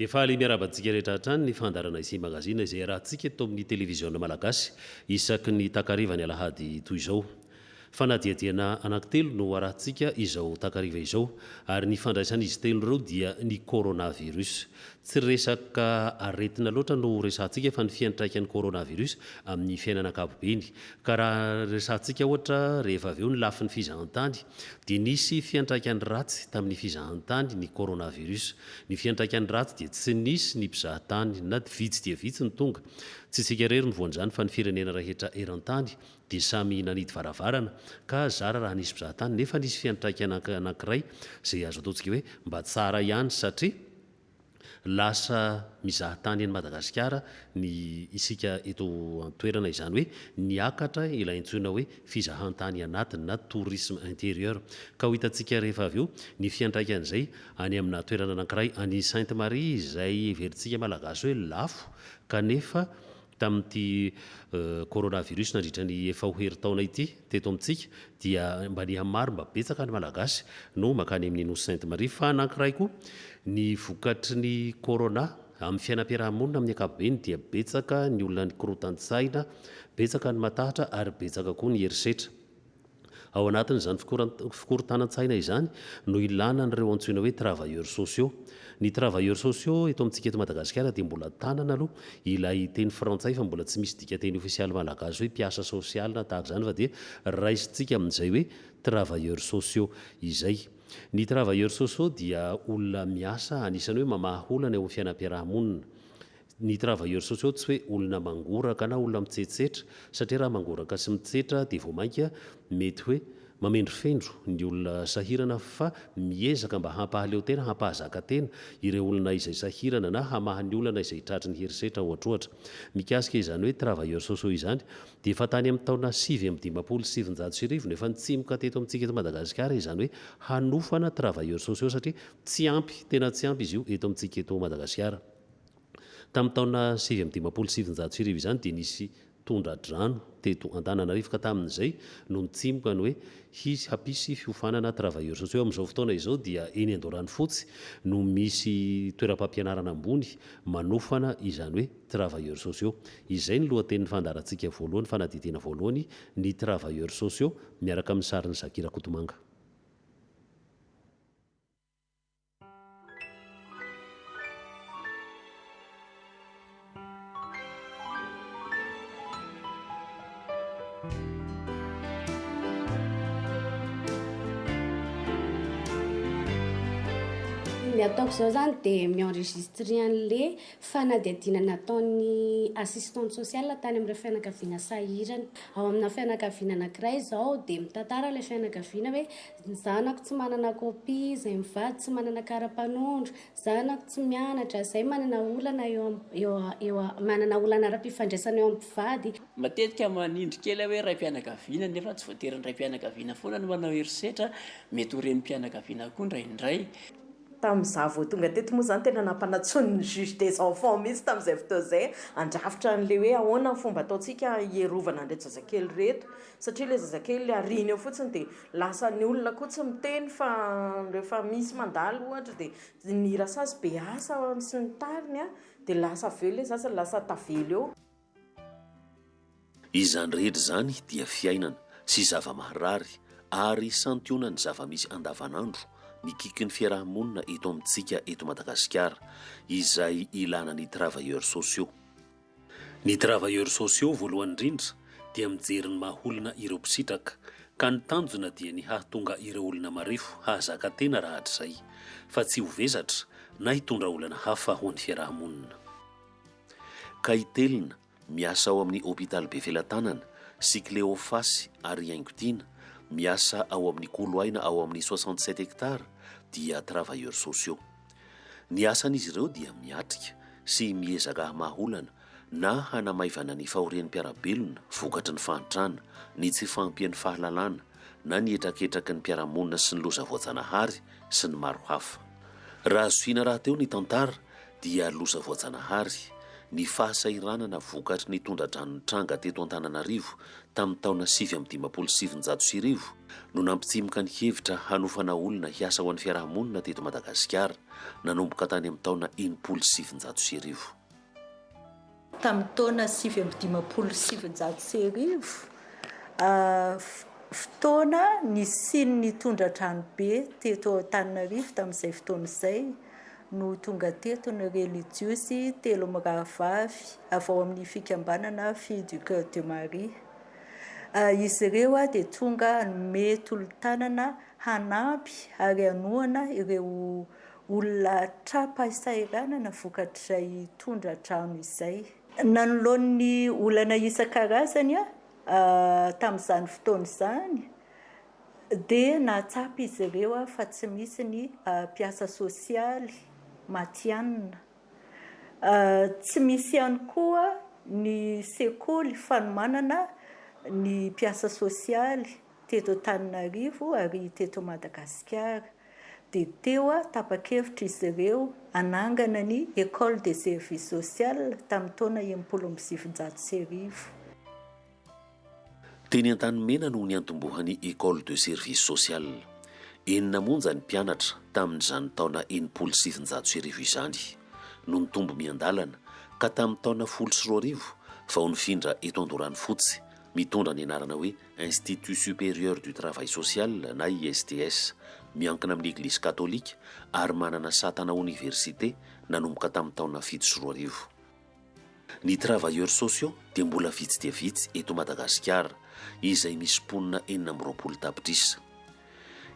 Dia faly miarahaba antsika rehetra hatrany ny fandaharana Izy Magazine izay iarahantsika eto amin'ny televiziona malagasy isaky ny takarivan'ny alahady toy izao. Fanadihadiana anankitelo no harahintsika izao takariva izao, ary ny fandraisan'izy telo ireo dia ny coronavirus. Tsy resaka aretina loatra no ho resahintsika fa ny fiantraikan'ny coronavirus amin'ny fiainana ankapobeny. Ka raha resahintsika ohatra rehefa avy eo ny lafiny fizahantany dia nisy fiantraikany ratsy tamin'ny fizahantany ny coronavirus. Ny fiantraikany ratsy dia tsy nisy ny mpizahatany na vitsy dia vitsy ny tonga. Tsy isika irery no voan'izany fa ny firenena rehetra eran-tany dia samy nanidy varavarana ka zara raha nisy mpizaha tany nefa nisy fiantraikana anankiray izay azo ataontsika hoe mba tsara ihany satria lasa mizaha tany any Madagasikara ny isika eto an-toerana izany hoe niakatra ilay antsoina hoe fizahantany anatiny na tourisme intérieur ka ho hitantsika rehefa avy eo ny fiantraikan'izay any amina toerana anankiray any Sainte Marie izay heverintsika malagasy hoe lafo kanefa tamin'ity coronavirus nandritra ny efa ho herintaona ity teto amintsika dia mba ny amin'ny maro mba betsaka ny Malagasy no mankany amin'ny Nosy Sainte Marie fa anankiray koa ny vokatry ny corona amin'ny fiainam-piaraha-monina amin'ny ankapobeny dia betsaka ny olona ny korotan-tsaina, betsaka ny matahatra ary betsaka koa ny herisetra. Ao anatin'izany fikorontanan-tsaina izany no ilana an'ireo antsoina hoe travailleurs sociaux. Ny travailleurs sociaux eto amintsika eto Madagasikara dia mbola tanana aloha ilay teny frantsay fa mbola tsy misy dikanteny ofisialy malagasy hoe mpiasa sosialy na tahaka izany fa dia raisintsika amin'izay hoe travailleurs sociaux izay. Ny travailleurs sociaux dia olona miasa anisan'ny hoe mamaha olana eo amin'ny fiainam-piarahamonina. Ny travailleurs sociaux tsy hoe olona mangoraka na olona mitsetsetra satria raha mangoraka sy mitsetra dia vao mainka mety hoe mamendrofendro ny olona sahirana fa miezaka mba hampahaleo tena, hampahazaka tena ireo olona izay sahirana na hamaha ny olana izay tratry ny herisetra ohatrohatra. Mikasika izany hoe travailleurs sociaux izany dia efa tany amin'ny taona sivy amby dimampolo sy sivinjato sy arivo no efa nitsimoka teto amintsika eto Madagasikara izany hoe hanofana travailleurs sociaux satria tsy ampy, tena tsy ampy izy io eto amintsika eto Madagasikara. Tamin'ny taona sivy amby dimampolo sy sivinjato sy arivo izany dia nisy tondra-drano teto Antananarivo ka tamin'izay no nitsimoka ny hoe hisy hampisy fiofanana travailleurs sociaux. Amin'izao fotoana izao dia eny Andoharanofotsy no misy toeram-pampianarana ambony manofana izany hoe travailleurs sociaux. Izay ny lohatenin'ny fandaharantsika voalohany, fanadihadiana voalohany, ny travailleurs sociaux miaraka amin'ny sarin'i Zaky Rakotomanga. ny ataoko izao zany dia mi-enregistre an'le fanadihadiana nataon'ny assistante sociale tany amin'ireo fianakaviana sahirana. Ao amina fianakaviana anankiray izao dia mitantara ilay fianakaviana hoe Ny zanako tsy manana copie, izay mivady tsy manana kara-panondro, zanako tsy mianatra, izay manana olana eo eo manana olana ara-pifandraisana eo amin'ny mpivady. Matetika manindry kely aho hoe raim-pianakaviana nefa tsy voatery ny raim-pianakaviana foana no manao herisetra, mety ho renim-pianakaviana koa indraindray. Tamin'izaho vao tonga teto moa izany tena nampanantsoiny ny juge des enfants mihitsy tamin'izay fotoana izay handrafitra an'ilay hoe ahoana ny fomba ataontsika hierovana an'ireto zazakely ireto satria ilay zazakely ariany eo fotsiny dia Lasa ny olona koa tsy miteny fa rehefa misy mandalo ohatra dia ny rasazy be asa sy ny tariny dia lasa avy eo ilay zaza lasa tavela eo. Izany rehetra izany dia fiainana sy zava-maharary ary santionan'ny zava-misy andavanandro mikiky ny fiaraha-monina eto amintsika eto Madagasikara izay ilana ny travailleurs sociaux. Ny travailleurs sociaux voalohany indrindra dia mijery ny maha olona ireo mpisitraka, ka ny tanjona dia ny hahatonga ireo olona marefo hahazaka tena raha hatrizay, fa tsy ho vesatra na hitondra olana hafa ho an'ny fiaraha-monina. Kaitelina, miasa ao amin'ny hopitaly Befelatanana, sy Cleofasy ary Iaingotiana, miasa ao amin'ny kolo aina ao amin'ny soixante sept hectares, dia travailleurs sociaux. Ny asan'izy ireo dia miatrika sy miezaka hamaha olana na hanamaivana ny fahorian'ny mpiara-belona vokatry ny fahantrana, ny tsy fahampian'ny fahalalana na ny hetraketraky ny mpiara-monina sy ny loza voajanahary sy ny maro hafa. Raha zohiana rahateo ny tantara dia loza voajanahary, ny fahasahiranana vokatry ny tondra-drano nitranga teto Antananarivo tamin'ny taona sivy amby dimampolo sy sivinjato sy arivo no nampitsimoka ny hevitra hanofana olona hiasa ho an'ny fiarahamonina teto Madagasikara, nanomboka tany amin'ny taona enimpolo sy sivinjato sy arivo. Tamin'ny taona sivy amby dimampolo sy sivinjato sy arivo, fotoana nisian'ny tondra-dranobe teto Antananarivo tamin'izay fotoana izay, no tonga teto ny relijiozy telo mirahavavy avy ao amin'ny fikambanana Filles du Coeur de Marie. Ah, izy ireo dia tonga hanome tolo-tanana, hanampy ary hanohana ireo olona tra-pahasahiranana vokatr'izay tondra-drano izay. Nanoloany ny olana isan-karazany ah, tamin'izany fotoana izany, dia nahatsapa izy ireo fa tsy misy ny mpiasa sosialy matihanina. Tsy misy ihany koa ny sekoly fanomanana ny mpiasa sosialy teto Antananarivo ary teto Madagasikara. Dia teo tapa-kevitra izy ireo hanangana ny Ecole de service social tamin'ny taona enimpolo amby sivinjato sy arivo. Teny Antanimena no niantombohan'ny Ecole de Service Social. Enina monja ny mpianatra, tamin'izany taona enimpolo sy sivinjato sy arivo izany, no nitombo miandalana, ka tamin'ny taona folo sy roa arivo vao nifindra eto Andoranofotsy, mitondra ny anarana hoe Institut Supérieur du Travail Social na ISTS, miankina amin'ny Eglizy Katolika ary manana saha tana oniversite nanomboka tamin'ny taona fito sy roa arivo. Ny travailleurs sociaux dia mbola vitsy dia vitsy eto Madagasikara, izay misy mponina enina amby roapolo tapitrisa.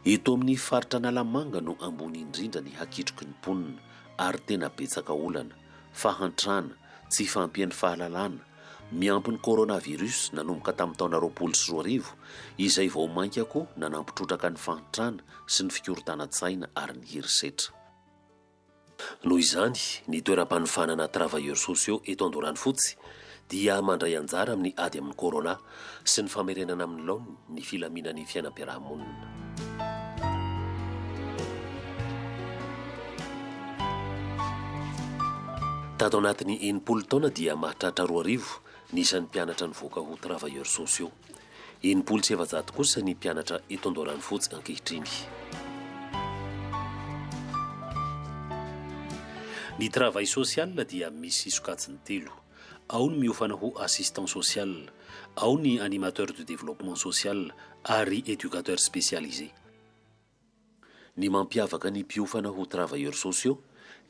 Eto amin'ny faritra Analamanga no ambony indrindra ny hakitroky ny mponina ary tena betsaka olana, fahantrana, tsy fahampian'ny fahalalana, miampy ny coronavirus nanomboka tamin'ny taona roapolo sy roa arivo, izay vao mainka koa nanampitrotraka ny fahantrana sy ny fikorontanan-tsaina ary ny herisetra. Noho izany, ny toeram-panofanana Travailleurs sociaux eto Andoranofotsy dia mandray anjara amin'ny ady amin'ny Corona sy ny famerenana amin'ny laoniny ny filaminan'ny fiainam-piarahamonina. Tato anatin'ny enimpolo taona dia mahatratra roa arivo ny isan'ny mpianatra nivoaka ho Travailleurs sociaux. Enimpolo sy efajato kosa ny mpianatra eto Andoharanofotsy ankehitriny. Ny travail social dia misy sokajiny telo. Ao ny miofana ho assistant social, ao ny animateur du développement social ary éducateur spécialisé. Ny mampiavaka ny mpiofana ho travailleurs sociaux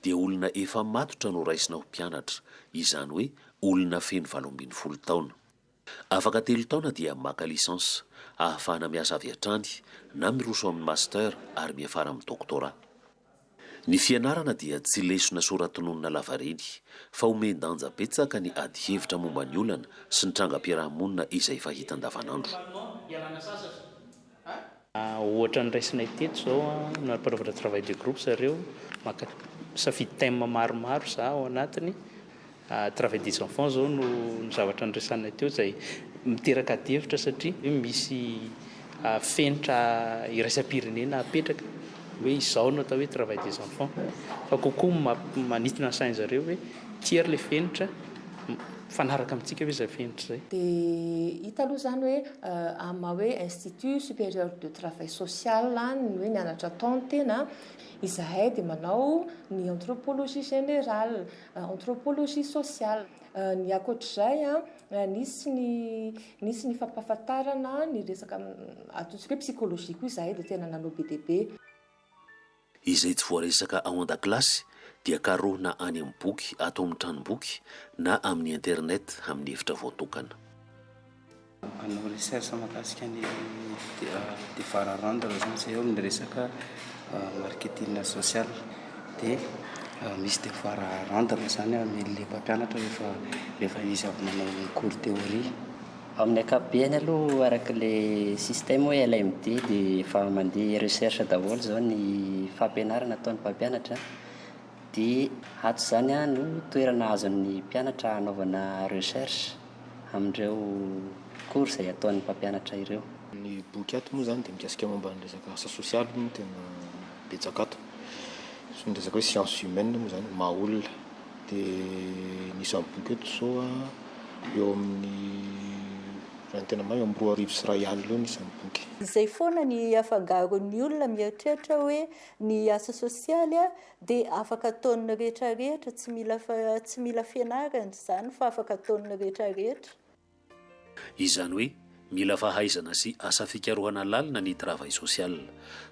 dia olona efa matotra no raisina ho mpianatra, izany hoe olona feno valo ambin'ny folo taona. Afaka telo taona dia maka licence, ahafahana miasa avy hatrany, na miroso amin'ny master ary miafara amin'ny doctorat. Ny fianarana dia tsy lesona soratononina lavareny, fa omen-danja betsaka ny adihevitra momba ny olana sy ny trangam-piarahamonina izay fahita andavanandro. Ohatra ny raisinay teto izao, manapanovatra travail de groupe zareo, maka misafidy thème maromaro za ao anatiny, travail des enfants izao no zavatra niresahanay teo izay miteraka adihevitra satria hoe misy fenitra iraisam-pirenena apetraka hoe izao no atao hoe travail des enfants fa kokoa mampa- manintona ny sain'zareo hoe tia ary le fenitra, Mifanaraka amintsika ve izay fenitra izay? Dia hita aloha izany hoe amin'ny maha hoe Institut Supérieur de Travail Social ny hoe mianatra atao ny tena, izahay dia manao ny Anthropologie Générale, Anthropologie Sociale. Ny ankoatra izay, nisy ny nisy ny fampahafantarana ny resaka ataontsika hoe Psychologie koa izahay dia tena nanao be dia be. Izay tsy voaresaka ao an-dakilasy dia karohina any amin'ny boky ato amin'ny tranomboky na amin'ny internet amin'ny efitra voatokana. Hanao recherche mahakasika ny devoara rendre izany izay eo amin'ny resaka marketing social. Dia misy devoara rendre izany amel'ilay mpampianatra rehefa izy avy nanao ny cours théorie. Amin'ny ankapobeny aloha araka ilay système hoe LMD dia efa mandeha recherche daholo izao ny fampianarana ataon'ny mpampianatra dia ato izany no toerana azon'ny mpianatra hanaovana recherche amin'ireo cours izay ataon'ny mpampianatra ireo. Ny boky ato moa izany dia mikasika momba ny resaka asa sosialy no tena betsaka ato, ny resaka hoe sciences humaines moa izany, maha olona. Dia ny isamboky eto izao eo amin'ny, raha ny tena marina, eo amin'ny roa arivo sy iray alina eo ny isamboky. Izay foana ny afangaron'ny olona mieritreritra hoe ny asa sosialy dia afaka ataon'ny rehetra rehetra, tsy mila tsy mila fianarana izany fa afaka ataon'ny rehetra rehetra. Izany hoe mila fahaizana sy asa fikarohana lalina ny travail social.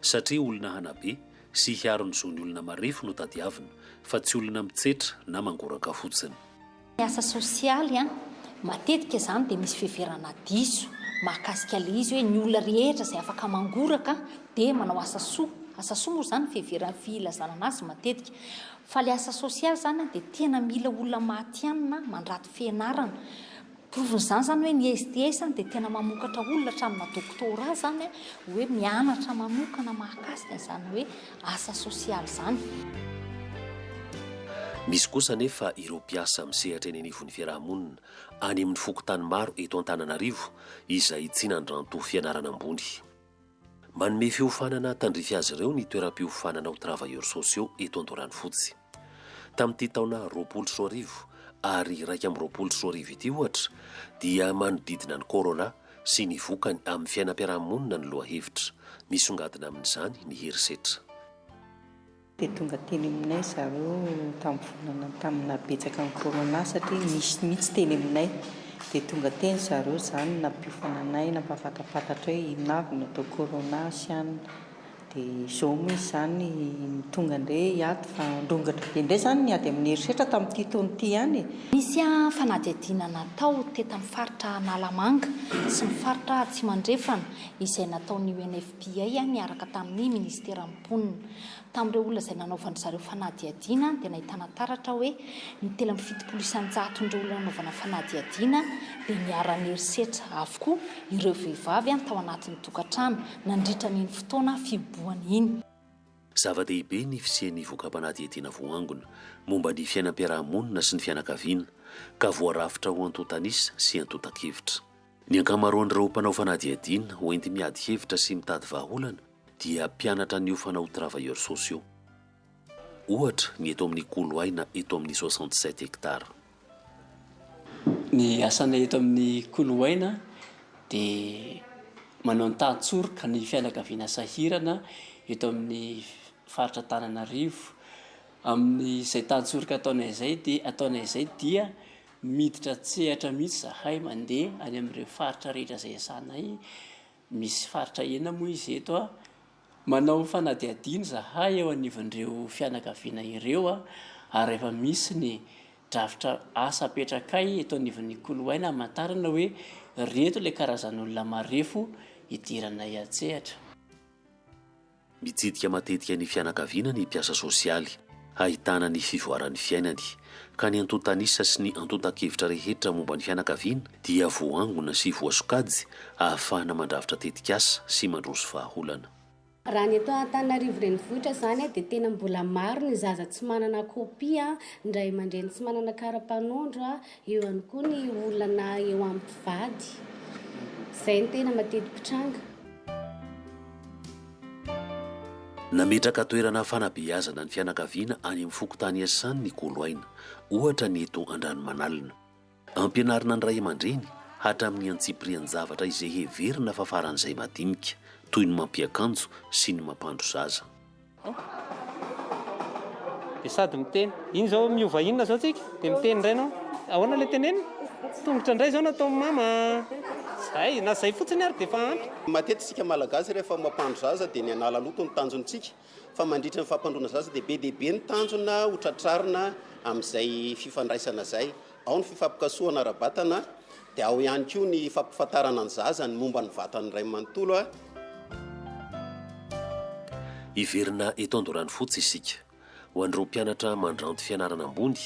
Satria olona hanabe sy hiaro ny zon'ny olona marefo no tadiavina fa tsy olona mitsetra na mangoraka fotsiny. Ny asa sosialy matetika izany dia misy fiheverana diso mahakasika ilay izy hoe ny olona rehetra izay afaka mangoraka dia manao asa soa. Asa soa moa izany fiheverana filazana an'azy matetika. Fa ilay asa sosialy izany dia tena mila olona matihanina mandrato. fianarana. Porofon'izany izany hoe ny STS izany dia tena mamokatra olona hatramina doctorat izany an, hoe mianatra manokana mahakasika an'izany hoe asa sosialy izany. Misy kosa anefa ireo mpiasa misehatra eny anivon'ny fiaraha-monina any amin'ny fokontany maro eto Antananarivo izay tsy nandranto fianarana ambony. Manome fiofanana tandrify azy ireo ny toeram-piofanana ho travailleurs sociaux eto Andoharanofotsy. Tamin'ity taona roapolo sy roa arivo ary iraika amby roapolo sy roa arivo ity ohatra dia manodidina ny Corona sy ny vokany amin'ny fiainam-piarahamonina ny lohahevitra misongadina amin'izany ny herisetra. Dia tonga teny aminay zareo tamin'ny volana tamin'ny naha betsaka ny corona satria nisy mihitsy teny aminay dia tonga teny zareo zany nampiofana anay nampahafatapatatra hoe inona avy no atao corona sy an dia izao moa izy izany no tonga indray hiady fa nirongatra be indray izany ny ady amin'ny herisetra tamin'ity taona ity ihany e. Nisy fanadihadiana natao teto amin'ny faritra Analamanga sy ny faritra Atsimo Andrefana izay nataon'ny UNFPA miaraka tamin'ny minisiteran'ny. mponina. Tamin'ireo olona izay nanaovan-dry zareo fanadihadiana dia nahitana taratra hoe ny telo amby fitopolo isan-jaton'ireo olona nanaovana fanadihadiana dia niara-niherisetra avokoa ireo vehivavy tao anatin'ny tokantrano nandritra an'iny fotoana fihibohana iny. Zava-dehibe ny fisian'ny voka-panadihadiana voaangona momba ny fiainam-piaraha-monina sy ny fianakaviana ka voarafitra ho antontan'isa sy antontan-kevitra. Ny ankamaroan'ireo mpanao fanadihadiana ho enti-miady hevitra sy mitady vahaolana, dia mpianatra niofana ho travailleurs sociaux. Ohatra ny eto amin'ny Kolo Aina eto amin'ny soixante sept hectares. Ny asanay eto amin'ny Kolo Aina dia manao ny tahan-tsoroka ny fianakaviana sahirana eto amin'ny faritra Antananarivo. Amin'izay tahan-tsoroka ataonay izay dia ataonay izay dia miditra an-tsehatra mihitsy izahay mandeha any amin'ireo faritra rehetra izay iasanay. Misy faritra enina moa izy eto a. Manao fanadihadiana izahay eo anivon'ireo fianakaviana ireo ary efa misy ny drafitra asa apetrakay eto anivon'ny koloaina hamantarana hoe ireto ilay karazan'olona marefo idiranay an-tsehatra. Mitsidika matetika ny fianakaviana ny mpiasa sosialy, hahitana ny fivoaran'ny fiainany, ka ny antontan'isa sy ny antontan-kevitra rehetra momba ny fianakaviana dia voaangona sy voasokajy ahafahana mandrafitra tetikasa sy mandroso vahaolana. Raha ny eto Antananarivo Renivohitra izany dia tena mbola maro ny zaza tsy manana kopia, ny ray aman-dreny tsy manana kara-panondro, Eo ihany koa ny olana eo amin'ny mpivady. Izay no tena mateti-pitranga. Nametraka toerana fanabeazana ny fianakaviana any amin'ny fokontany iasany ny Kolo Aina, ohatra ny eto Andranomanalina. Ampianarina ny ray aman-dreny hatramin'ny antsipirian-javatra izay heverina fa faran'izay madinika, toy ny mampiakanjo sy ny mampandro zaza. Dia sady miteny. Iny izao miova inona izao tsika? Dia miteny indray ianao. Ahoana ilay tenenina? Tongotra indray izao nataon'i mama. Izay, na izay fotsiny ary dia efa ampy. Matetika isika Malagasy rehefa mampandro zaza dia ny hanala loto no tanjontsika. Fa mandritra ny fampandroana zaza dia be dia be ny tanjona ho tratrarina amin'izay fifandraisana izay. Ao ny fifampikasohana ara-batana dia ao ihany koa ny fampifantarana ny zaza ny momba ny vatan'ny ray manontolo. Hiverina eto Andoranofotsy isika. Ho an'ireo mpianatra mandranto fianarana ambony,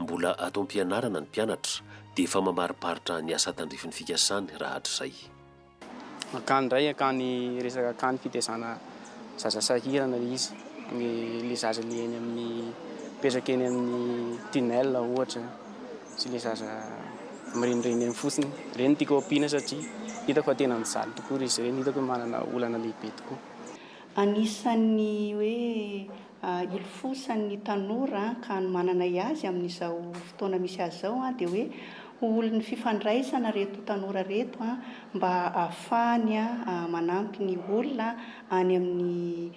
mbola ato am-pianarana ny mpianatra, dia efa mamariparitra ny asa tandrifin'ny fikasany rahatrizay. Akany ndray akany resaka akany fitezana zaza sahirana le izy ny le zaza le eny amin'ny mipetraka eny amin'ny tunnel ohatra sy le zaza mirenireny eny fotsiny ireny tiako ampiana satria hitako fa tena mijaly tokoa izy ireny hitako hoe manana olana lehibe tokoa. Anisan'ny hoe hilofosan' ny tanora an, ka ny manana y azy amin' izao fotoana misy azy izao an, dia hoe ho olon' ny fifandraisana ireto tanora ireto an, mba ahafahany an manampy ny olona any amin' ny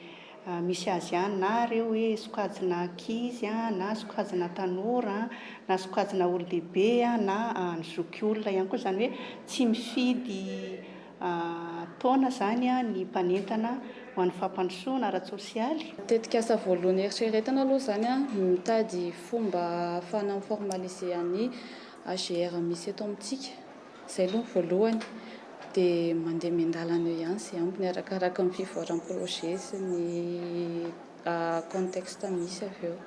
misy azy any, na ireo hoe sokajina ankizy an, na sokajina tanora an, na sokajina olon-dehibe an, na ny zokiolona ihany koa, izany hoe tsy mifidy taona izany ny mpanentana ho an'ny fampandrosoana ara-tsosialy. Tetikasa voalohany eritreretana aloha izany ny mitady fomba ahafahana mi-formaliser an'i AGR misy eto amintsika. Izay aloha ny voalohany. Dia mandeha miandalana eo ihany izay ambiny arakaraka ny fivoaran'ny projet sy ny. contexte misy avy eo.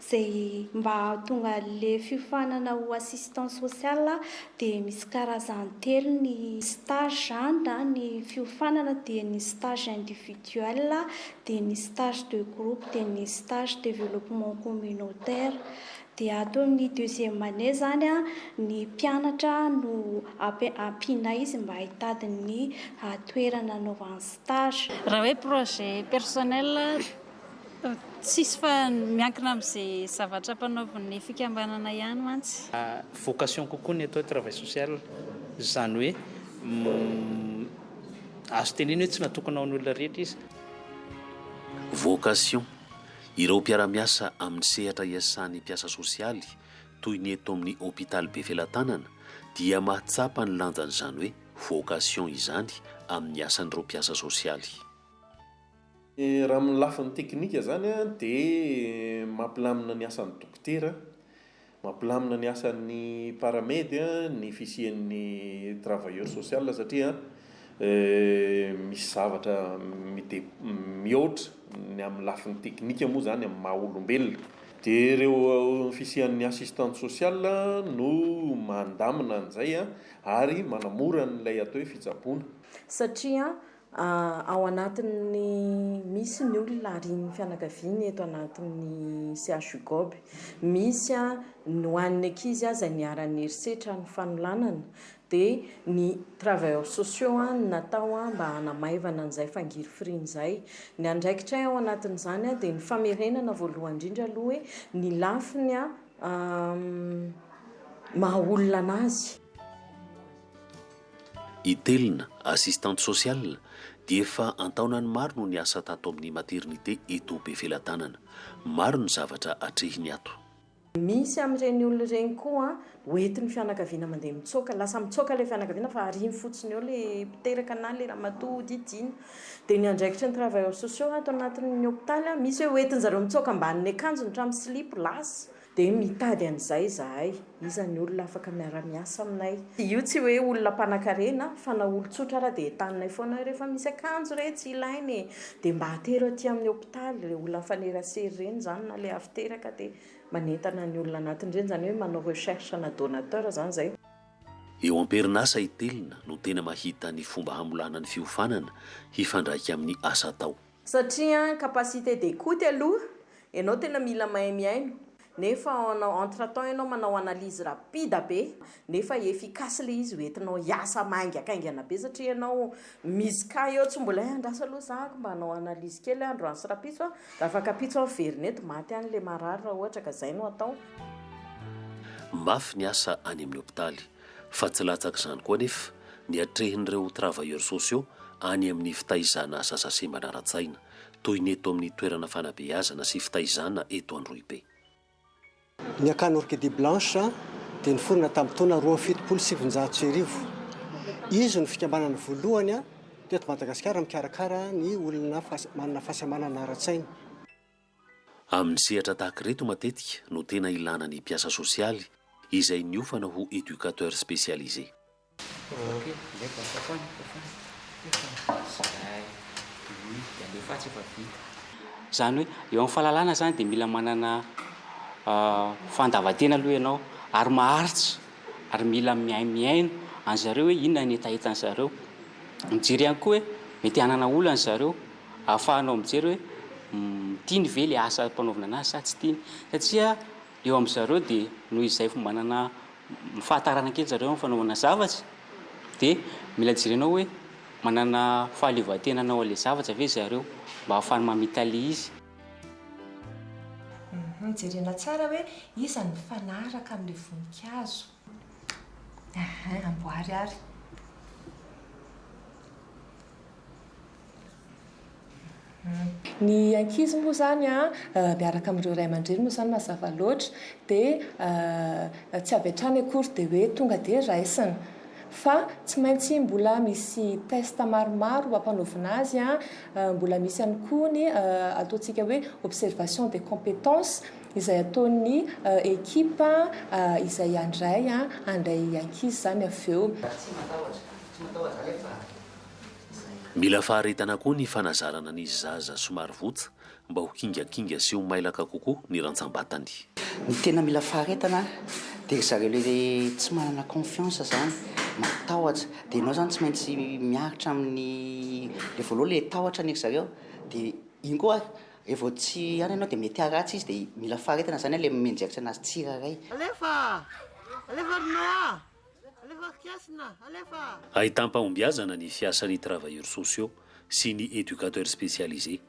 Izay mba hahatonga an'ilay fiofanana ho assistant social dia misy karazany telo ny stage na ny fiofanana dia ny stage individuel, dia ny stage de groupe, dia ny stage développement communautaire. Dia ato amin'ny deuxième année izany ny mpianatra no ampianay izy mba hitady ny toerana anaovany stage. Raha hoe projet personnel, tsisy fa miankina amin'izay zavatra ampanaovin'ny fikambanana ihany mantsy. Vocation kokoa ny atao hoe travail social, izany hoe azo tenenina hoe tsy natokana ho an'ny olona rehetra izy. Vocation, Ireo mpiara-miasa amin'ny sehatra iasan'ny mpiasa sosialy, toy ny eto amin'ny hopitaly Befelatanana, dia mahatsapa ny lanjan'izany hoe vocation izany amin'ny asan'ireo mpiasa sosialy. Raha amin'ny lafiny teknika izany dia mampilamina ny asan'ny dokotera Mampilamina ny asan'ny Paramedy ny fisian'ny travailleur social satria misy zavatra mihoatra ny amin'ny lafiny teknika moa izany amin'ny maha olombelona. Dia ireo fisian'ny assistante sociale no mandamina an'izay ary manamora an'ilay atao hoe fitsaboana. Satria Ao anatin'ny misy ny olona arian'ny fianakaviany eto anatin'ny CHUGOB. Misy ny ho an'ny ankizy aza niharan'ny herisetra ny fanolanana dia ny travailleurs sociaux no natao mba hanamaivana an'izay fangirifiriana izay. Ny andraikitray ao anatin'izany dia ny famerenana voalohany indrindra aloha hoe ny lafiny maha olona an'azy. I Telina, assistante sociale, dia efa an-taonany maro no niasa tato amin'ny maternité eto Befelatanana. Maro ny zavatra atrehiny ato. Misy amin'ireny olona ireny koa ho entin'ny fianakaviana mandeha mitsoaka. Lasa mitsoaka ilay fianakaviana fa arihiny fotsiny eo ilay mpiteraka na ilay ramatoa hodidiana. Dia ny andraikitry ny travailleurs sociaux ato anatin'ny hopitaly, misy hoe ho entin'izareo mitsoaka ambanin'ny akanjony hatramin'ny silipo, lasa. Dia mitady an'izay izahay. Iza ny olona afaka miara-miasa aminay? Io tsy hoe olona mpanankarena fa na olon-tsotra ara dia entaninay foana hoe rehefa misy akanjo re tsy ilaina e! dia mba atero aty amin'ny hopitaly ireny olona mifanerasera ireny izany na ilay avy teraka dia manentana ny olona anatiny ireny, izany hoe manao recherche na donateur izany izay. Eo am-perinasa itelina no tena mahita ny fomba hamolana ny fiofanana hifandraika amin'ny asa atao. Satria an capacité d'écoute aloha ianao tena mila mahay mihaino nefa en entre temps ianao manao analyse rapide be nefa efficace ilay izy hoentinao hiasa maingakaingana be satria ianao misy cas eo tsy mbola hay andraso aloha za mba hanao analyse kely aho androany sy rapitso an raha afaka ampitso aho miverina eto maty any ilay marary raha ohatra ka izay no atao. Mafy ny asa any amin'ny hopitaly. Fa tsy latsak'izany koa anefa ny atrehin'ireo travailleurs sociaux any amin'ny fitaizana asa sase manara-tsaina, toy ny eto amin'ny toerana fanabeazana sy fitaizana eto Androhibe. Ny akany Orchidée Blanche dia niforona tamin'ny taona roa amby fitopolo sy sivinjato sy arivo. Izy no fikambanana voalohany teto Madagasikara mikarakara ny olona manana fahasembanana ara-tsaina. Amin'ny sehatra tahaka ireto matetika no tena ilana ny mpiasa sosialy izay niofana ho éducateur spécialisé. Izany hoe eo amin'ny fahalalana izany dia mila manana fandavan-tena aloha ianao ary maharitra ary mila mihaino mihaino an'izareo hoe inona ny hetahetan'izareo. Mijery ihany koa hoe mety hanana olana izareo. Ahafahanao mijery hoe tiany ve ilay asa ampanaovina anazy sa tsy tiany. Satria eo amin-dry zareo dia noho izay efa manana fahatarana kely zareo amin'ny fanaovana zavatra dia mila jerenao hoe manana fahaleovantena hanao an'ilay zavatra ve ry zareo mba ahafahany mamitalia izy. Jerena tsara hoe iza no mifanaraka amin'ilay voninkazo. Ahay amboary ary. Ny ankizy moa izany an, miaraka amin'ireo ray aman-dreny moa izany mazava loatra dia tsy avy hatrany akory dia hoe tonga dia raisina. Fa tsy maintsy mbola misy test maromaro ampanaovina azy an, mbola misy ihany koa ny ataontsika hoe observation des competences Izay ataon'ny ekipa izay handray handray ankizy izany avy eo. Tsy matahotra, tsy matahotra alefa fa izay. Mila faharetana koa ny fanazarana ny zaza somary votsa mba ho kingakinga sy ho mailaka kokoa ny rantsambatany. Ny tena mila faharetana dia ry zareo le tsy manana confiance zany, matahotra, dia enao zany tsy maintsy miaritra amin'ny le voaloha le tahotra ny ry zareo dia iny koa Re vao tsy any ianao dia mety haratsy izy dia mila faharetana zany le mianjeritra anazy tsirairay. Alefa! Alefa ry Noa! Alefa Kiasina! Alefa! Ahitam-pahombiazana ny fiasan'ny travailleurs sociaux sy ny educateurs spécialisés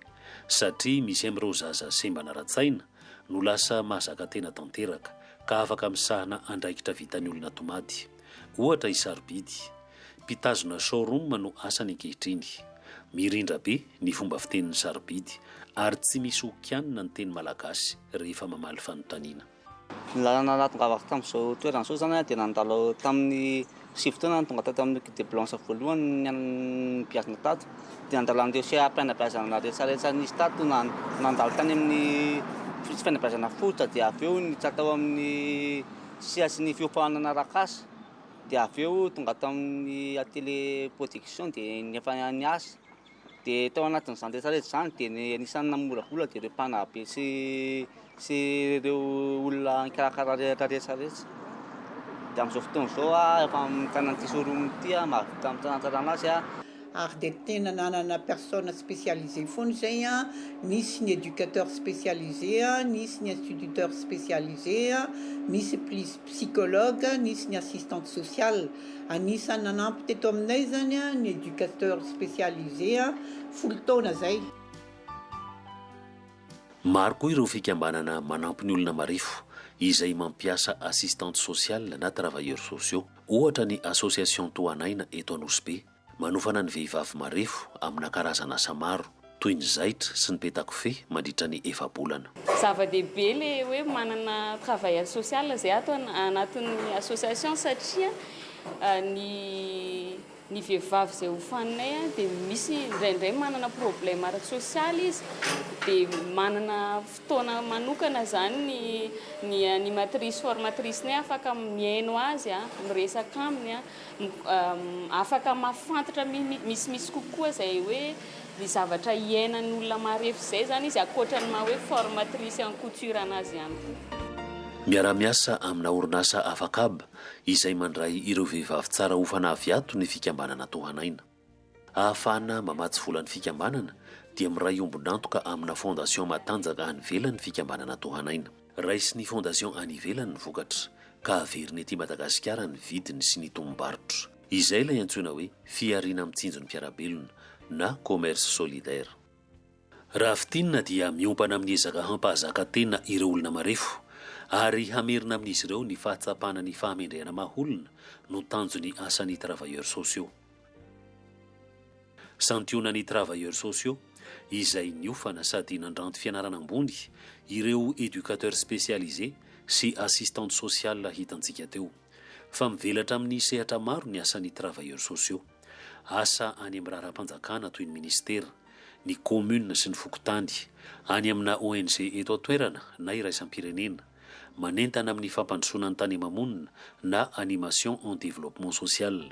satria misy amin'ireo zaza sembana ara-tsaina no lasa mahazaka tena tanteraka ka afaka misahana andraikitra vitan'ny olona tomady, ohatra i Sarobidy, Mpitazona showroom no asany ankehitriny. Mirindra be ny fomba fiteniny sarobidy ary tsy misy ho kianina ny teny malagasy rehefa mamaly fanontaniana. Ny lalana nahatongavako avy tamin'izao toerana izao izany dia nandalo tamin'ny sivy taona aho no tonga tato amin'ny Guide de Blanche voalohany nibiazina tato. Dia nandalo an'ireo seha-pihanabeazana rehetsarehetra nisy tato, nandalo tany amin'ny fihanabeazana fototra dia avy eo niditra tao amin'ny sehatry ny fiompahanana arak'asa. dia avy eo tonga tao amin'ny atelier production dia efa niasa dia tao anatin'izany rehetra rehetra izany dia ny anisan'ny namolavola dia ireo mpanabe sy sy ireo olona nikarakara rehetra rehetra rehetra dia amin'izao fotoana izao aho efa mitana ity showroom ity aho mahavita mitantana azy aho ary dia tena nanana personne spécialisée foana izay a, nisy ny éducateur spécialisé a, nisy ny instituteur spécialisé a, nisy plis psychologue, nisy ny assistante sociale. Anisan'ny nanampy teto aminay izany a ny éducateur spécialisé a, folo taona izay. Maro koa ireo fikambanana manampy ny olona marefo izay mampiasa assistante sociale na travailleurs sociaux. Ohatra ny association Tohanaina eto Anosibe, manofana ny vehivavy marefo amina karazana asa maro, toy ny zaitra sy ny peta-kofehy mandritra ny efa-bolana. Zava-dehibe le hoe manana travailleur social zay ato anatin'ny association satria ny Ny vehivavy izay hofaninay dia misy indraindray manana problème ara-tsosialy izy dia manana fotoana manokana izany ny animatrice formatrice-nay afaka mihaino azy, miresaka aminy, afaka mahafantatra misimisy kokoa izay hoe ny zavatra hiainan'ny olona marefo izay izany izy ankoatra ny maha hoe formatrice en couture anazy ihany koa. Miara-miasa amina orinasa Afakab izay mandray ireo vehivavy tsara ho fanavy ato ny fikambanana Tohanaina. Ahafahana mamatsy volan'ny fikambanana dia miray ombon'antoka amina fondation matanjaka any ivelany ny fikambanana Tohanaina. Raisin'ny fondation any ivelany ny vokatra ka averiny ety Madagasikara ny vidiny sy ny tombom-barotra. Izay ilay antsoina hoe fihariana mitsinjo ny mpiara-belona na commerce solidaire. Raha fintinina dia miompana amin'ny ezaka hampahazaka tena ireo olona marefo ary hamerina amin'izy ireo ny fahatsapana ny fahamendrehana maha olona no tanjon'ny asan'ny travailleurs sociaux. Santionan'ny travailleurs sociaux izay niofana sady nandranto fianarana ambony ireo éducateurs spécialisés sy assistantes sociales hitantsika teo. Fa mivelatra amin'ny sehatra maro ny asan'ny travailleurs sociaux. Asa any amin'ny raharaham-panjakana toy ny minisitera, ny kaominina sy ny fokontany, any amina ONG eto an-toerana na iraisam-pirenena, manentana amin'ny fampandrosoana ny tany ama-monina na animation en développement social.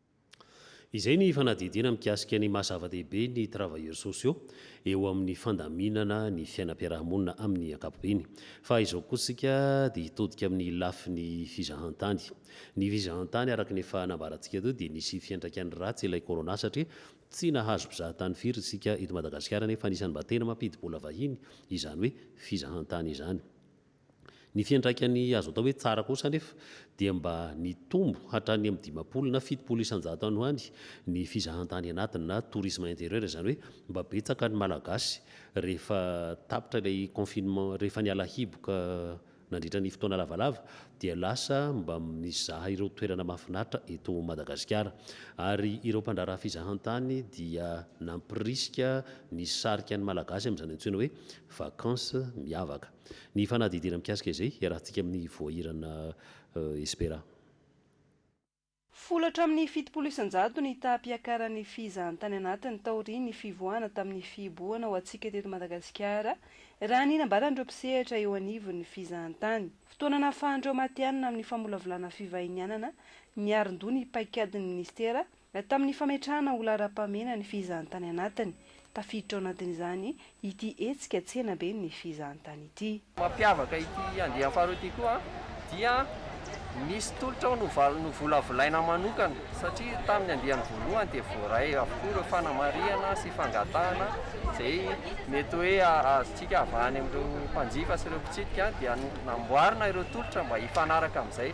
Izay ny fanadihadiana mikasika ny maha zava-dehibe ny travailleurs sociaux eo amin'ny fandaminana ny fiainam-piarahamonina amin'ny ankapobeny. Fa izao kosa isika dia hitodika amin'ny lafiny fizahantany. Ny fizahantany araka ny efa nambarantsika teo dia nisy fiantraikany ratsy ilay corona satria tsy nahazo mpizahatany firy isika eto Madagasikara nefa anisan'ny mba tena mampidi-bola vahiny izany hoe fizahantany izany. Ny fiantraikany azo atao hoe tsara kosa anefa dia mba nitombo hatrany amin'ny dimampolo na fitopolo isan-jato any ho any ny fizahantany anatiny na tourisme intérieur izany hoe mba betsaka ny Malagasy rehefa tapitra ilay confinement rehefa niala hiboka nandritra ny fotoana lavalava dia lasa mba mizaha ireo toerana mahafinaritra eto Madagasikara ary ireo mpandraharaha fizahantany dia nampirisika nisarika ny Malagasy amin'izany antsoina hoe vacances miavaka. Ny fanadihadiana mikasika izay hiarahantsika amin'ny voahirana Espera. Folo hatramin'ny fitopolo isan-jato ny taham-piakaran'ny fizahantany anatiny taorian'ny fivoahana tamin'ny fihibohana ho antsika teto Madagasikara, raha ny nambaran'ireo mpisehatra eo anivon'ny fizahantany. Fotoana nahafahan'ireo matihanina amin'ny famolavolana fivahinianana niarin-doha ny paikadin'ny minisitera, Tamin'ny fametrahana ho laharam-pahamehana ny fizahantany anatiny, tafiditra ao anatin'izany ity hetsika Tsenaben'ny fizahantany ity. Mampiavaka ity andiany faharoa ity koa dia misy tolotra ao novolavolaina manokana satria tamin'ny andiany voalohany dia voaray avokoa ireo fanamarihana sy fangatahana izay mety hoe azontsika avahany amin'ireo mpanjifa sy ireo mpitsidika dia namboarina ireo tolotra mba hifanaraka amin'izay.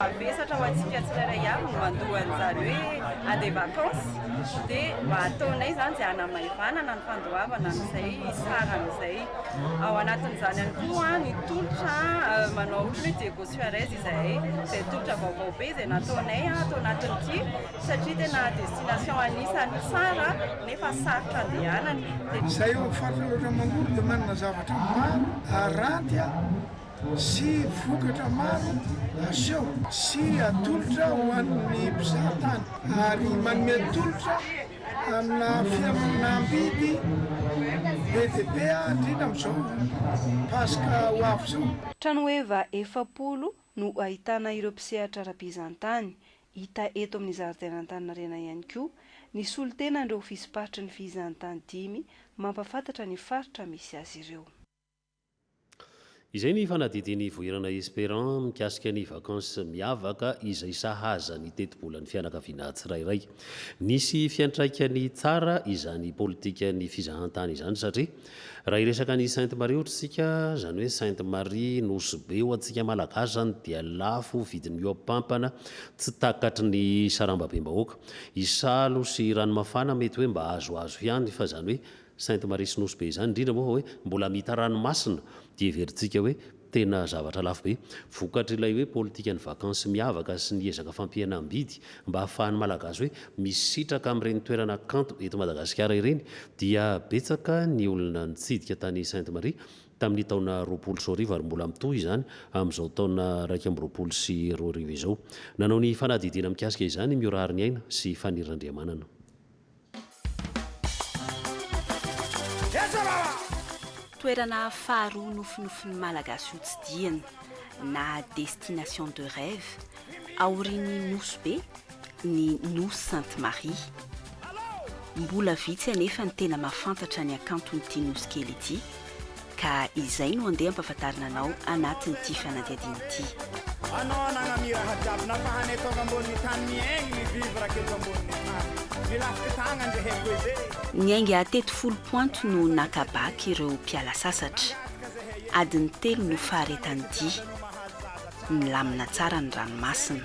Mavesatra ho antsika tsirairay avy ny mandoa an'izany hoe a des vacances dia mba ataonay izany izay hanamaivanana ny fandoavana an'izay sarany izay. Ao anatin'izany ihany koa ny tolotra manao ohatry ny hoe Diego Suarez izahay, izay tolotra vaovao be izay nataonay ato anatin'ity satria tena destination anisan'ny tsara nefa sarotra andehanana dia. Izay eo amin'ny faritra loatra manory dia manana zavatra maro haranty a! sy vokatra maro aseho sy atolotra ho an'ny mpizaha tany ary manome tolotra amina fihenam-bidy be dia be indrindra amin'izao Paska ho avy izao. Tranoheva efapolo no ahitana ireo mpisehatra ara-bizantany, hita eto amin'ny zaridain'Antaninarenana ihany koa ny solontenan'ireo ofisym-paritry ny fihizantany dimy mampafantatra ny faritra misy azy ireo. Izay ny fanadihadian'i Ivohirana Esperant mikasika ny vakansy miavaka izay sahaza ny tetibolan'ny fianakaviana tsirairay. Nisy fiantraikany tsara izany politikan'ny fizahantany izany satria raha hiresaka an'i Sainte Marie ohatra isika, izany hoe Sainte Marie Nosy Be ho antsika Malagasy izany dia lafo vidin'ny hoapampana tsy takatry ny sarambabem-bahoaka. Isalo sy Ranomafana mety hoe mba azoazo ihany fa izany hoe Sainte Marie sy Nosy be izany, indrindra moa fa hoe mbola mita ranomasina dia heverintsika hoe tena zavatra lafo be. Vokatr'ilay hoe politikan'ny vakansy miavaka sy ny ezaka fampihenam-bidy mba hahafahan'ny Malagasy hoe misitraka amin'ireny toerana kanto eto Madagasikara ireny dia betsaka ny olona nitsidika tany Sainte Marie tamin'ny taona roapolo sy roa arivo ary mbola mitohy izany amin'izao taona iraika amby roapolo sy roa arivo izao. Nanao ny fanadihadiana mikasika izany i Miora Hariniaina sy Faniriandriamanana. Toerana faharoa nofinofin'ny Malagasy hotsidihina na destination de rêve aorian'ny Nosy Be ny Nosy Sainte Marie. Mbola vitsy anefa ny tena mahafantatra ny hakanton'ity Nosy kely ity. Ka izay no andeha ampafantarina anao anatin'ity fanadihadiana ity. Anao anagna miraha jiaby nampahanay tonga ambonin'ny tany miaigny mi-vivre aky eto ambonin'ny tany milafiky tagna nge haiko ede. Ny ainga teto folo points no naka bac ireo mpiala sasatra. Adiny telo no faharetan'ny dia. Milamina tsara ny ranomasina.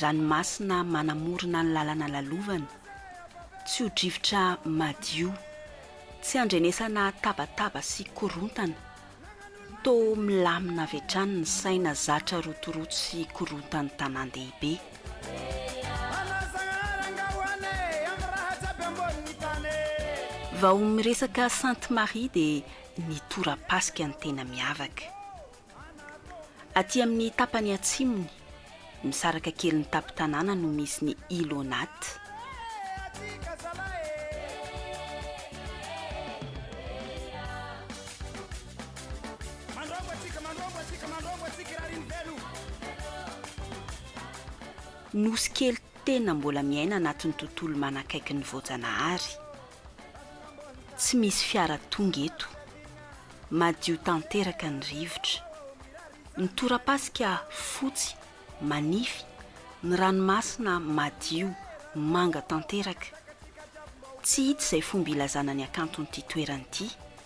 ranomasina manamorona ny lalana lalovana, tsy ho drivotra madio, tsy andrenesana tabataba sy korontana, toa milamina avy hatrany ny saina zatra rotoroto sy korontan'ny tanàn-dehibe. Vao miresaka Sainte Marie dia ny tora-pasika ny tena miavaka. Aty amin'ny tapany atsimony, misaraka kely ny tampon-tanàna no misy ny Ilonat. Nosy kely tena mbola miaina anatin'ny tontolo manakaiky ny voajanahary. Tsy misy fiara tonga eto. Madio tanteraka ny rivotra. Ny torapasika fotsy, manify, ny ranomasina madio, manga tanteraka. Tsy hita izay fomba ilazana ny hakanton'ity toerana ity.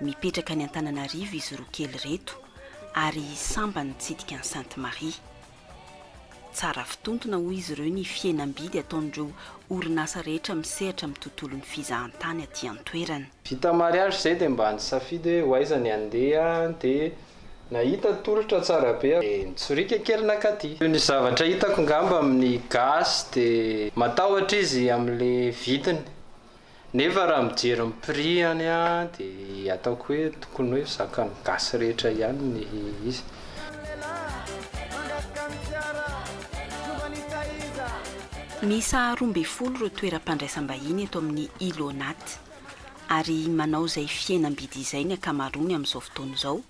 Mipetraka any Antananarivo izy roa kely ireto ary sambany mitsidika an'i Sainte Marie. Tsara fitontona hoy izy ireo ny fihenam-bidy ataon'ireo orinasa rehetra misehatra amin'ny tontolon'ny fizahantany aty an-toerana. Vita mariage izay dia mba nisafidy hoe ho aiza ny handeha dia nahita tolotra tsara be aho dia nitsoriaka kely nakaty. Toy ny zavatra hitako ngamba amin'ny gasy dia matahotra izy amin'ilay vidiny. Nefa raha mijery ny prix ihany aho dia ataoko hoe tokony hoe zakan'ny gasy rehetra ihany ny izy. Miisa roa ambin'ny folo ireo toeram-pandraisam-bahiny eto amin'ny Île aux Nattes, ary manao izay fihenam-bidy izay ny ankamaroany amin'izao fotoana izao,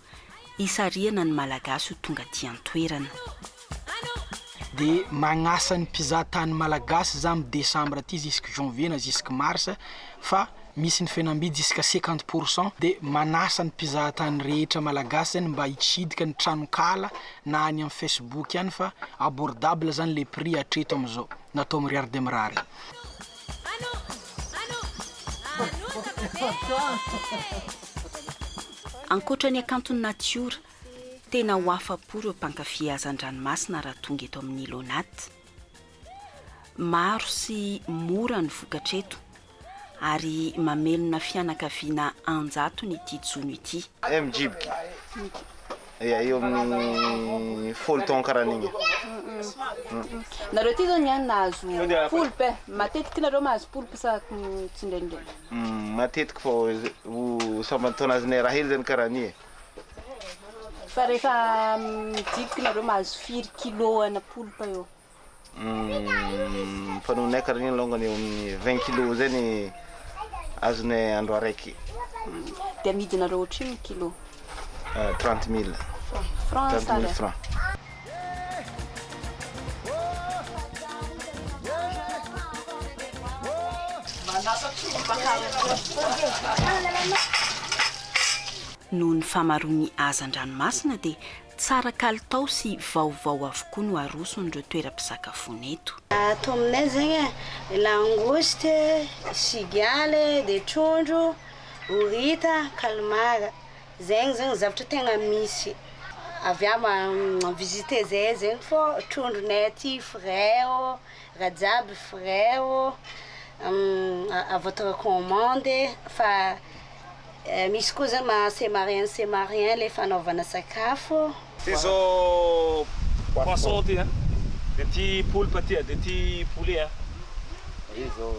hisarihana ny Malagasy ho tonga aty an-toerana. Dia magnasa ny mpizaha tany Malagasy za am décembre aty jusque janvier na jusque mars fa misy ny fihenam-bidy jusque cinquante pour cent dia manasa ny mpizaha tany rehetra Malagasy zany mba hitsidika ny tranon-kala na any am Facebook any fa abordable zany le prix hatreto am zao natao mirary dia mirary. Ankoatra ny hakanton'ny natiora, tena ho afa-po ireo mpankafy hazan-dranomasina raha tonga eto amin'ny Ilonat. Maro sy mora ny vokatra eto ary mamelona fianakaviana an-jatony ity jono ity. Mijibika eo amin'ny folo taona karaha an'igny. Nareo aty zao niany nahazo poulpe, matetiky nareo mahazo poulpe sa tsy ndraindraiky? Humm matetiky vao ho samban-taona azy nay rahely zany karaha an'io e. Fa rehefa midiboky nareo mahazo firy kilo ana polpa eo? Humm fanaonay karaha an'io longany eo amin'ny vingt kilo zay ny azonay andro araiky. Humm de amidinareo ohatrinona kilo? Trente mille. Franc sa ariary? Noho ny famaroan'ny hazan-dranomasina dia tsara kalitao sy vaovao avokoa no aroson'ireo toeram-pisakafoana eto. Ato aminay zegny e, langoste, cigale, dia trondro, horita, calmar. Zegny zegny zavatra tegna misy avy eo ma visiter zay zegny fô trondronay aty frais ô raha jiaby frais ô à votre commande e fa misy koa zany ma c'est marien c'est marien le fanaovana sakafo. Izao poisson ty an, dia ity poulpe ty an, dia ity poulet an. Ary izao.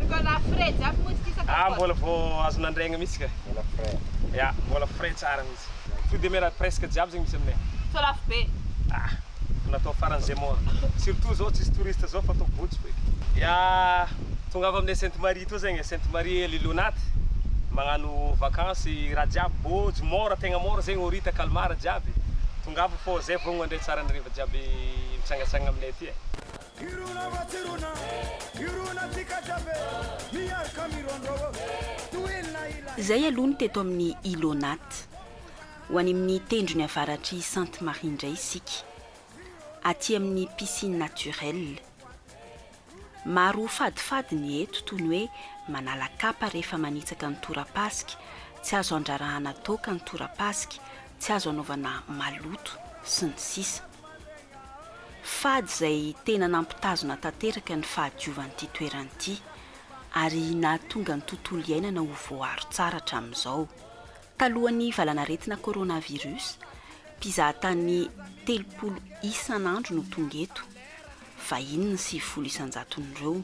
Mbola frais jiaby moa izy ity sa kapoaka? Ah mbola vao azo nandraigna mihitsy ka. Mbola frais. Ya, mbola frais tsara mihitsy. Fruits de mer presque jiaby zegny misy aminay. Sao lafo be? Ah, natao faran'izay moa. Surtout zao tsisy touriste zao fa atao bojo feky. Ya. Tongava aminay Sainte Marie etoa zegny e, Sainte Marie Lily Onaty magnano vakansy raha jiaby bôjo môra tegna môra zegny horita calmar jiaby tongava fô zay vogno mandray tsara ny hariva jiaby mitsangatsangana aminay aty e. Hirona va tsy rona hirona tsika jiaby e miarka mirondrô ô tohina ilay. Zay aloha ny teto amin'ny Ilonat. Ho any amin'ny tendrony avaratr'i Sainte Marie indray isika. Aty amin'ny piscine naturelle. Maro ho fadifady ny eto toy ny hoe manala kapa rehefa manitsaka ny torapasika, tsy azo andrarahana toaka ny torapasika, tsy azo anaovana maloto, sy ny sisa Fady izay tena nampitazona tanteraka ny fahadiovan'ity toerana ity, ary nahatonga ny tontolo iainana ho voaaro tsara hatramin'izao. Talohan'ny valanaretina coronavirus, mpizahatany telopolo isan'andro no tonga eto, vahiny ny sivifolo isan-jaton'ireo.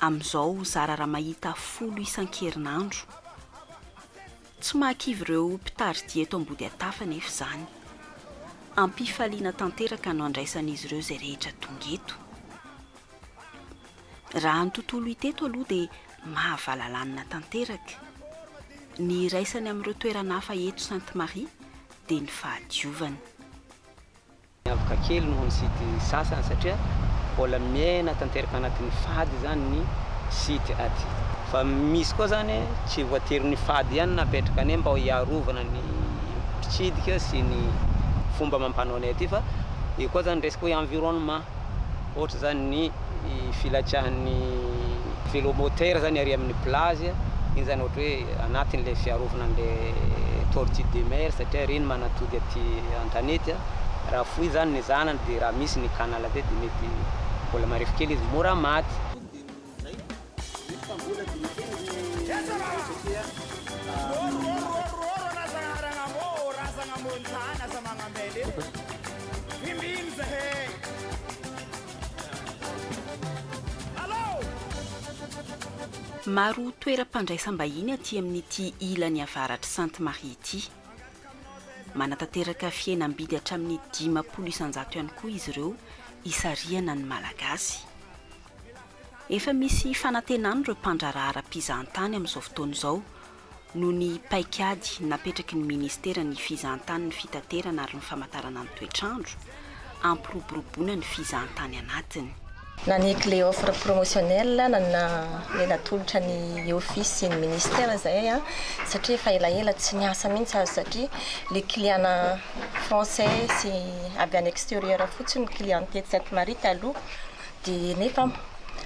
Amin'izao zara raha mahita folo isan-kerinandro. Tsy mahakivy ireo mpitari-dia eto Ambodiantafo anefa izany. Am-pifaliana tanteraka no andraisan'izy ireo izay rehetra tonga eto. Raha ny tontolo hita eto aloha dia mahavalalanina tanteraka. Ny iraisany amin'ireo toerana hafa eto Sainte Marie dia ny fahadiovany. Miavaka kely noho ny site sasany satria mbola miaina tanteraka anatin'ny fady izany ny site aty. Fa misy koa izany tsy voatery fady ihany no apetraka anie mba hiarovana ny mpitsidika sy ny fomba amam-panaonay aty fa io koa izany resaka hoe environnement. ohatra zany ny filatsahan'ny velo moteur zany ary amin'ny plage iny zany ohatra hoe anatin'ilay fiarovana an'ilay tortue de mer satria ireny manatody aty an-tanety, raha foy zany ny zanany dia raha misy ny canal zay dia mety mbola marefo kely izy mora maty. Maro toeram-pandraisam-bahiny aty amin'ity ilany avaratr'i Sainte Marie ity. Manatanteraka fihenam-bidy hatramin'ny dimampolo isan-jato ihany koa izy ireo hisarihana ny Malagasy. Efa misy fanantenana ireo mpandraharaha ara-pizahantany amin'izao fotoana izao noho ny paikady napetraky ny Ministeran'ny Fizahantany ny Fitaterana ary ny Famantarana ny Toetr'andro, hampiroboroboana ny fizahantany anatiny. Naneky le offre promotionnelle nanana le natolotra ny office sy ny ministère zahay a, satria efa elaela tsy niasa mintsy aza satria le client-na français sy avy any exterieur fotsiny ny client-ny tety Sainte Marie taloha, Dia nefa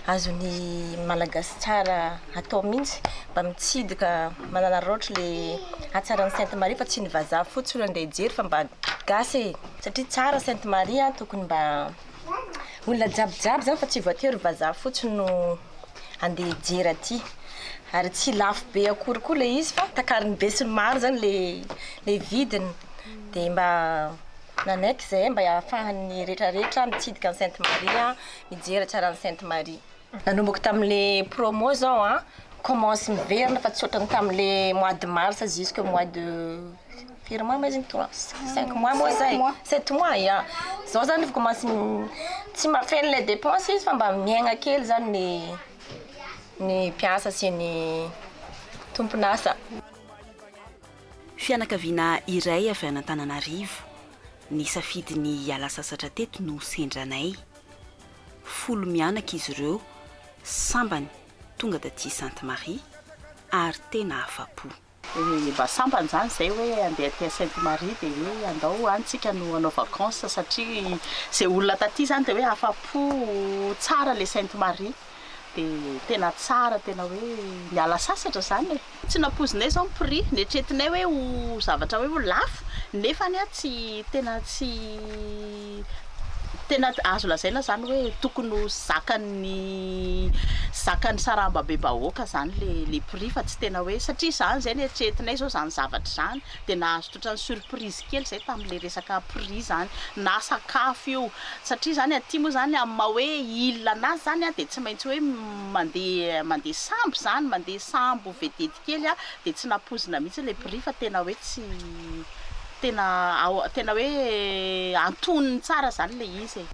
azon'ny Malagasy tsara atao mihitsy mba mitsidika mananaraotra ilay hatsaran'i Sainte Marie fa tsy ny vazaha fotsiny andeha hijery fa mba gasy e! satria tsara Sainte Marie a, tokony mba olona jiaby jiaby izany fa tsy voatery vazaha fotsiny no andeha hijery aty, ary tsy lafo be akory koa ilay izy fa takarin'ny besinimaro izany ilay ilay vidiny dia mba. Nanaiky izay mba hahafahan'ny retraretra mitsidika an'i Sainte Marie, mijery hatsaran'i Sainte Marie. Nanomboka tamin'le promo zao an, commence miverina fa tsy ohatran'ny tamin'le mois de mars jusque mois de firy mois moa izy iny toa? Cinq mois moa zay? Sept mois ya. Zao zany efa commence tsy mahafeno le dépense izy fa mba miaigna kely zany ny ny mpiasa sy ny tompon'asa. Fianakaviana iray avy any Antananarivo nisafidy ny hiala sasatra teto no sendra anay. Folo mianaka izy ireo, sambany tonga taty Sainte Marie ary tena afa-po. Mba sambany izany izay hoe handeha aty Sainte Marie dia hoe andao any isika no hanao vacances satria izay olona taty izany dia hoe afa-po, tsara ilay Sainte Marie. dia tena tsara tena hoe niala sasatra izany e! Tsy nampoizinay izao ny prix, neritreretinay hoe ho zavatra hoe ho lafo nefa anie tsy tena tsy tena azo lazaina izany hoe tokony ho zakan'ny zakan'ny sarambabem-bahoaka izany ilay ilay prix fa tsy tena hoe satria izany izay neritreretinay izao izany zavatra izany dia nahazo totran'ny surprise kely izay tamin'ilay resaka prix izany na sakafo io satria izany aty moa izany amin'ny maha hoe il an'azy izany dia tsy maintsy hoe mandeha mandeha sambo izany, mandeha sambo vedety kely dia tsy nampoizina mihitsy ilay prix fa tena hoe tsy tena ao tena hoe antonony tsara izany ilay izy e.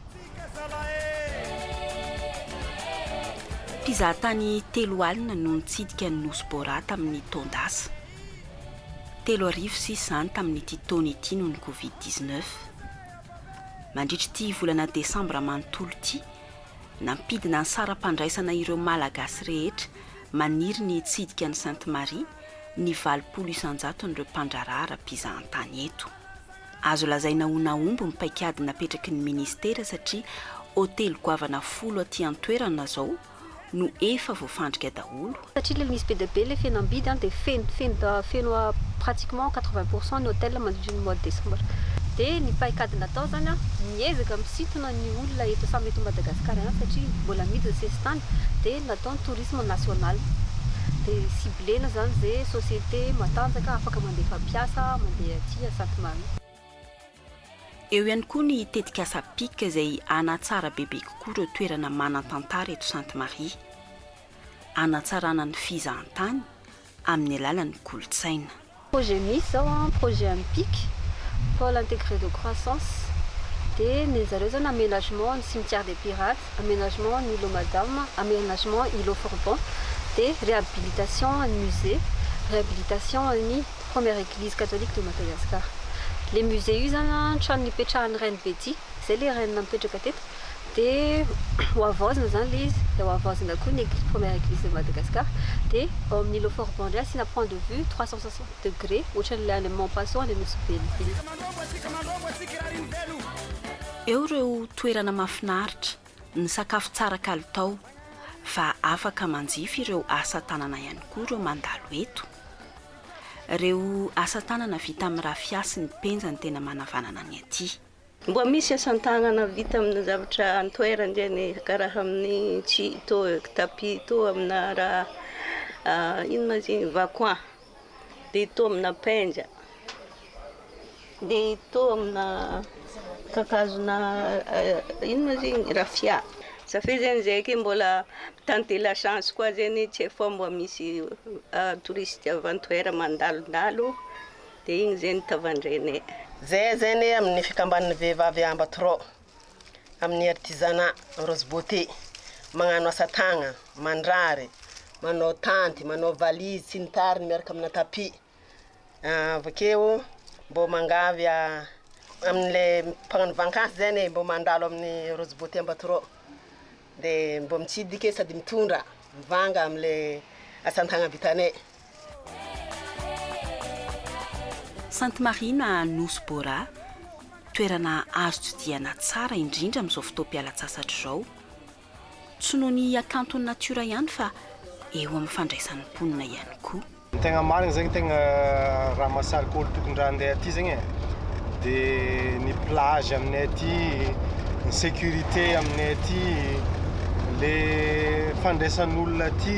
Mpizahatany telo alina no nitsidika ny Nosy Bora tamin'ny taon-dasa. Telo arivo sisa izany tamin'ity taona ity noho ny covid dix neuf. Mandritra ity volana desambra manontolo ity, nampidina ny saram-pandraisana ireo Malagasy rehetra maniry ny hitsidika an'i Sainte Marie ny valopolo isan-jaton'ireo mpandraharaha ara-pizahantany eto. Azo lazaina ho nahomby ny paikady napetraky ny Ministera satria hotely goavana folo aty an-toerana izao no efa voafandrika daholo. Satria ilay misy be dia be ilay fihenam-bidy an, dia feno feno feno pratiquement quatre-vingts pour cent ny hotel mandritra ny mois de décembre. Dia ny paikady natao izany an, miezaka misintona ny olona eto samy eto Madagascar ihany satria mbola amidy ny sesitany, dia natao ny tourisme national. Dia ciblena izany izay société matanjaka afaka mandefa mpiasa mandeha aty à Sainte Marie. Eo ihany koa ny tetikasa pic izay hanatsara bebe kokoa ireo toerana manan-tantara eto Sainte Marie. Hanatsarana ny fizahantany amin'ny alalan'ny kolontsaina. Projet misy zao an, projet an'ny pic, pole integre de croissance, dia ny an'zareo zany aménagement ny cimetière des pirates, aménagement ny îlot madame, aménagement îlot forbon, dia réhabilitation an'ny musée, réhabilitation an'ny. Première église catholique de Madagascar. Le musée io zany an trano nipetrahan'ny reine Betty, zay le reine nipetraka teto, de hohavaozina zany le izy, de hohavaozina koa ny première église de Madagascar, de ao amin'ny îlot fort Bendry asiana point de vue trois cent soixante degré ohatran'ilay any amin'ny Mampaso any amin'ny Nosy Velively. Eo ireo toerana mahafinaritra. Misakafo tsara kalitao fa afaka manjifa ireo asa tanana ihany koa ireo mandalo eto. Ireo asa tanana vita amin'ny rafia sy ny penja no tena manavanana ny aty. Mboa misy asan-tanana vita amin'ny zavatra an-toerana ireny e, karaha amin'ny tsihy toa tapis toa aminà raha inona izy iny, vacoin. Dia toa amina penja. Dia toa amina kakazona inona izy igny? Rafia. Za fe zegny zay ke mbola mi-tenter la chance koa zegny tsy efa mba misy touriste avy an-toera mandalondalo dia igny zegny tavandrenay. Zay zegny amin'ny fikambanan'ny vehivavy Ambatorò. amin'ny artisanat Rose Beauté, magnano asa tagna, mandrary, manao tanty, manao valise sy ny tariny miaraka amina tapis. Ah, avy akeo mbô mangavy ah, amin'ilay mpagnano vakansy zany e, mbô mandalo amin'ny Rose Beauté Ambatorò. Dia mba mitsidika e sady mitondra mivanga amle asantanana vitanay. Sainte Marina Nosy Bora, toerana azo tsidihana tsara indrindra amin'izao fotoam-pialantsasatra izao. Tsy noho ny hakanton'ny natiora ihany fa eo amin'ny fandraisan'ny mponina ihany koa. Ny tegna marigny zegny tegna raha mahasarika olo tokony raha andeha aty zegny e de ny plage aminay aty, ny sécurité aminay aty, le fandraisan'olona aty,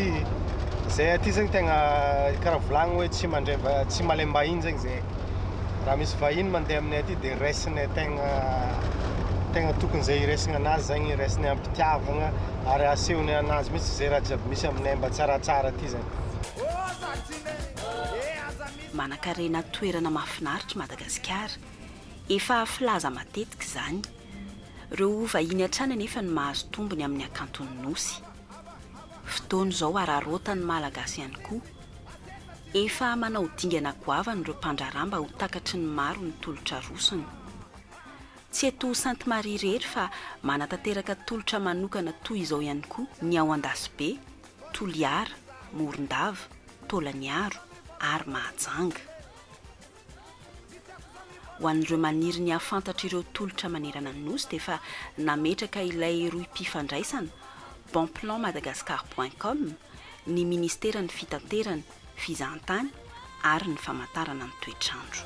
zay aty zegny tegna karaha volagny hoe tsy mandray va- tsy malem-bahiny zegny zay, raha misy vahiny mandeha aminay aty de raisinay tegna tegna tokony zay iraisigna anazy zegny iraisinay am-pitiavagna ary asehonay anazy mitsy zay raha jiaby misy aminay mba tsaratsara aty zany. Manankarena toerana mahafinaritra i Madagasikara. Efa filaza matetika izany. Ireo vahiny hatrany anefa no mahazo tombony amin'ny hakanton'ny Nosy. Fotoana izao hararaotan'ny Malagasy ihany koa. Efa manao dingana goavana ireo mpandraharaha mba ho takatry ny maro ny tolotra arosony. Tsy eto Sainte Marie irery fa manatanteraka tolotra manokana toy izao ihany koa ny ao Andasibe. Toliara, Morondava, Taolagnaro ary Mahajanga. Ho an'ireo maniry ny hahafantatra ireo tolotra manerana ny Nosy dia efa nametraka ilay rohim-pifandraisana, bonplanmadagascar point com, ny Ministeran'ny Fitaterana, fizahantany ary ny famantarana ny toetr'andro.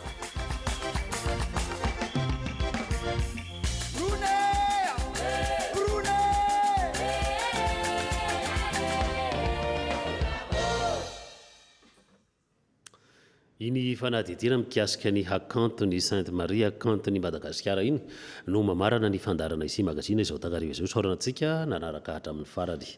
Iny fanadihadiana mikasika ny hakanton' i Sainte Marie hakanton' i Madagasikara iny no mamarana ny fandaharana Izy Magazine izao takariva izao. Isaorana antsika nanaraka hatramin'ny farany.